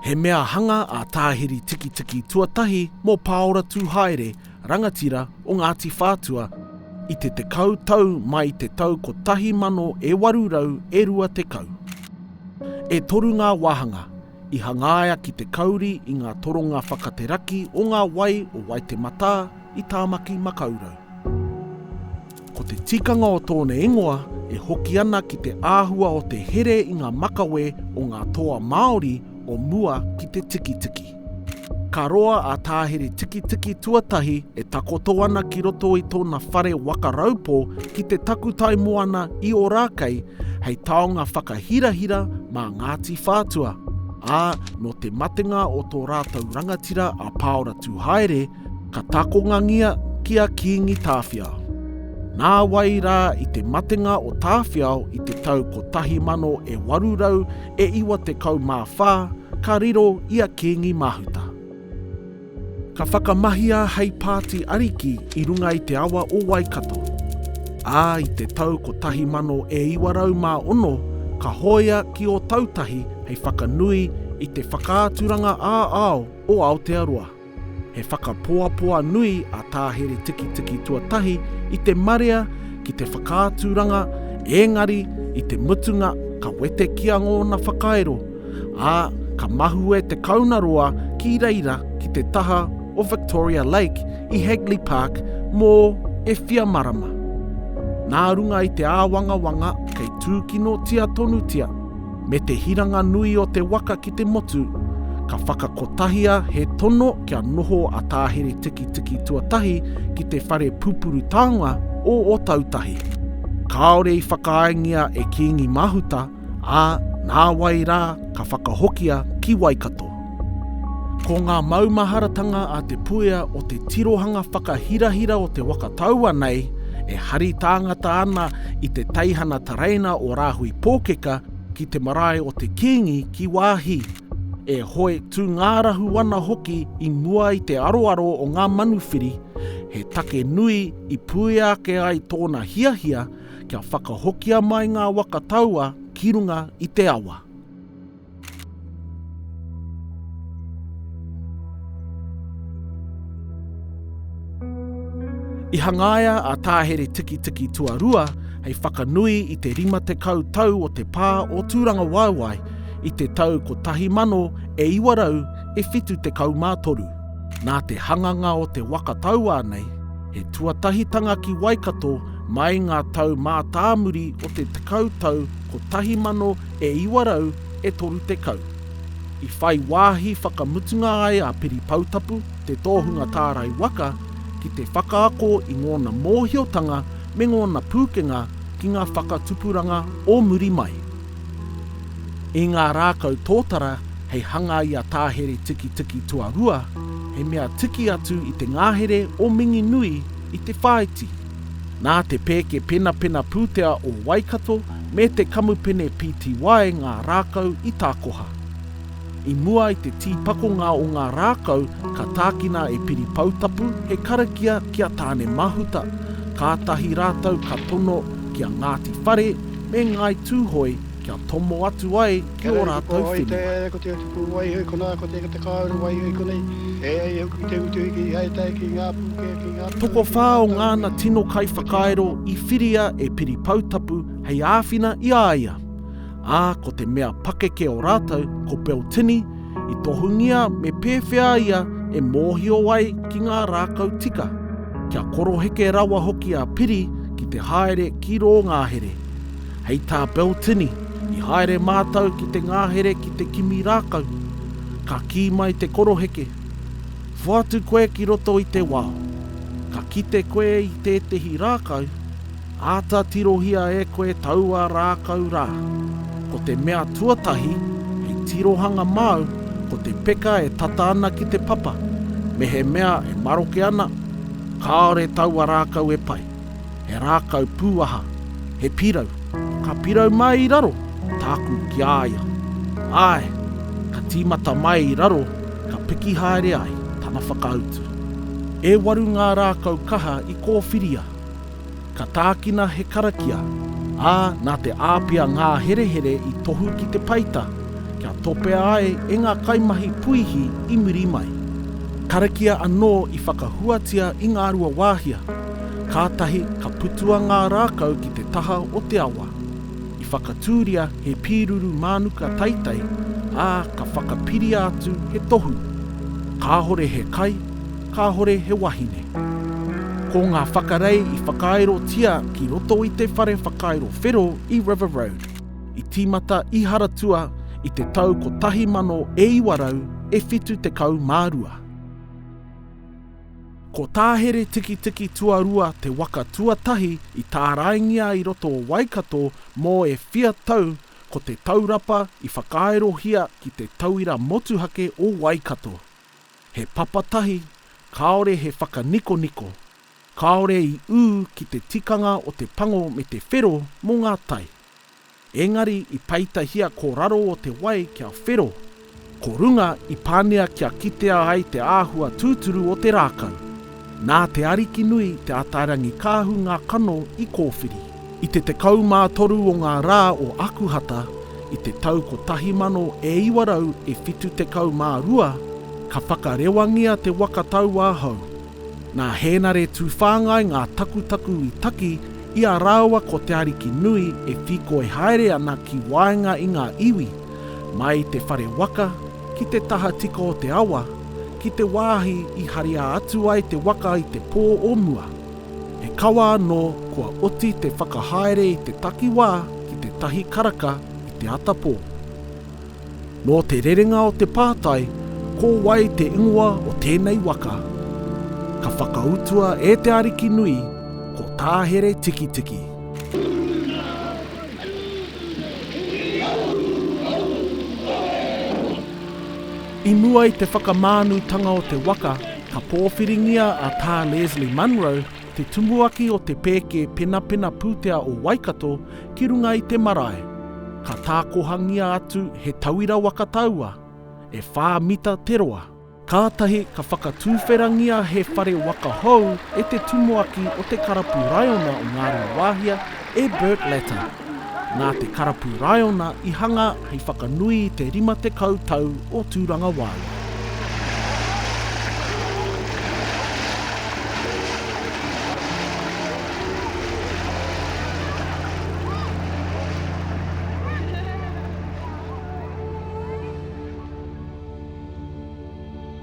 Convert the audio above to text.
He mea hanga a Tāhiri Tikitiki tuatahi mō Pāora Tūhaere, rangatira o Ngāti Whātua, i te tekau tau mai i te tau 1820. E toru ngā wāhanga, I hangaia ki te kauri i ngā toronga whakateraki o ngā wai o Waitematā i Tāmaki Makaurau. Ko te tikanga o tōna ingoa e hoki ana ki te āhua o te here i ngā makawe o ngā toa Māori o mua ki te tikitiki. Ka roa a Tā Here Tikitiki tuatahi e takoto ana ki roto i tōna whare waka raupō ki te takutai moana i Ōrākei hei taonga whakahirahira mā Ngāti Whātua, ā, nō te matenga o tō rātou rangatira a Pāora Tūhaere, ka takongangia ki a Kīngi Tāwhiao. Nā wai rā i te matenga o Tāwhiao i te tau 1894 ka riro i a Kīngi Mahuta. Ka whakamahia hei pāti ariki i runga i te awa o Waikato, ā, i te tau 1906 ka hōia ki Ōtautahi hei whakanui i te whakaaturanga ā-ao o Aotearoa. He whakapoapoa nui a Tā Here Tikitiki tuatahi i te marea ki te whakaaturanga ēngari i te mutunga ka wetekia ngōna whakairo ā, ka mahue te kaunaroa ki reira ki te taha o Victoria Lake i Hagley Park mō e whia marama. Nā runga i te āwangawanga kei tūkinotia tonutia me te hiranga nui o te waka ki te motu, ka whakakotahia he tono kia noho a Tā Here Tikitiki tuatahi ki te whare pupuru taonga o Otautahi. Kāore i whakaaengia e Kīngi Mahuta ā, nāwai rā ka whakahokia ki Waikato. Ko ngā maumaharatanga a Te Puea o te tirohanga whakahirahira o te waka taua nei e hari tāngata ana i te teihana tereina o Rāhui Pōkeka ki te marae o te Kīngi ki Waahi, e hoe tūngārahu ana hoki i mua i te aroaro o ngā manuwhiri, he take nui i puea ake ai tōna hiahia kia whakahokia mai ngā waka taua ki runga i te awa. I hangaia a Tāhere Tikitiki Tuarua hei whakanui i te 50 tau o te pā o Tūrangawaewae i te tau 1973. Nā te hanganga o te waka tauā nei, he tuatahitanga ki Waikato Mai ngā tau mātāmuri o te tekau tau 1900 e 30, i whai wāhi whakamutunga ai a Piri Poutapu, te tōhunga tārai waka, ki te whakaako i ngōna mōhiotanga me ngōna pūkenga ki ngā whakatupuranga o muri mai. I ngā rākau tōtara hei hanga i a Tāhere Tikitiki Tuarua, he mea tiki atu i te ngahere o Minginui, I te whāiti, nā te pēke penapena pūtea o Waikato me te kamupene pty ngā rākau i tākoha. I mua i te tīpakonga o ngā rākau ka tākina e Piri Poutapu he karakia ki a Tāne Mahuta, kātahi rātou ka tono ki a Ngāti Whare me Ngāi Tūhoe, Kia tomo atu ai ki ō rātou whenua. Kia rere koutou hai tae, ko te tupu waiho i konā, ko te te kāore waiho i konei, e ai hoki ki te utuhiki i hai tae ki ngā pūkē, ki ngā pūkē, ki ngā tāngata. Tokowhā o ngāna tino kaiwhakairo i whiria e Piri Poutapu hei āwhina i a ia, ā, ko te mea pakeke o rātou ko Beltini i tohungia me pēwhea ia e mōhio ai ki ngā rākau tika, kia koroheke rawa hoki a Piri ki te haere ki rō ngahere. Hei tā Beltini, I haere mātou ki te ngāhere ki te kimi rākau. Ka kī mai te koroheke, Whoatu koe ki roto i te wao. Ka kite koe i tētehi rākau, āta tirohia e koe taua rākau rā. Ko te mea tuatahi hei tirohanga māu ko te peka e tata ana ki te papa, mehemea e maroke ana, kāore taua rākau e pai. he rākau pūaha, he pirau, ka pirau mai i raro, tāku ki a ia. Āe, ka tīmata mai i raro, ka piki haere ai, tana whakautu. E waru ngā rākau kaha i kōwhiria. Ka tākina he karakia, ā, nā te āpia ngā herehere i tohu ki te peita, kia topea ai e ngā kaimahi puihi i muri mai. Karakia anō i whakahuatia i Ngāruawāhia. Kātahi ka putua ngā rākau ki te taha o te awa. I whakatūria he pīruru mānuka taitai, ā, ka whakapiria atu he tohu. Kāhore he kai, kāhore he wahine. Ko ngā whakarei i whakaaerotia ki roto i te whare whakairo whero i River Road, i tīmata i Haratua i te tau 1972. Ko Tāhere Tikitiki Tuarua te waka tuatahi i tāraingia i roto o Waikato mō e whia tau ko te taurapa i whakaaerohia ki te tauira motuhake o Waikato. He papatahi, kāore he whakanikoniko, kāore i ū ki te tikanga o te pango me te whero mō ngā tai. Engari i peitahia ko raro o te wai kia whero, ko runga i pāngia kia kitea ai te āhua tūturu o te rākau. Nā te Arikinui Te Atairangikaahu ngā kano i kōwhiri. I te 13 o ngā rā o Akuhata i te tau 1972 ka whakarewangia te waka tauāhau, Nā Hēnare Tūwhāngai ngā takutaku i taki i a rāua ko Te Ariki Nui e whīkoi haere ana ki waenga i ngā iwi, mai i te whare waka, ki te tahatika o te awa, ki te wāhi i haria atu ai te waka i te pō o mua. He kawa anō kua oti te whakahaere i te takiwā ki tētahi karaka i te atapō. Nō te rerenga o te pātai ko wai te ingoa o tēnei waka, ka whakautua e te ariki nui ko Tāhere Tikitiki. I mua i te whakamānutanga o te waka, ka pōwhiringia a Tā Leslie Munro te tumuaki o te pēke penapena pūtea o Waikato ki runga i te marae, ka tākohangia atu he tauira waka taua, e whā mita te roa. Kātahi ka whakatuwherangia he whare waka hou e te tumuaki o te karapu raiona o Ngāruawāhia E Burt Latta, nā te karapu Raiona i hanga hei whakanui i te 50 tau o Tūrangawaewae.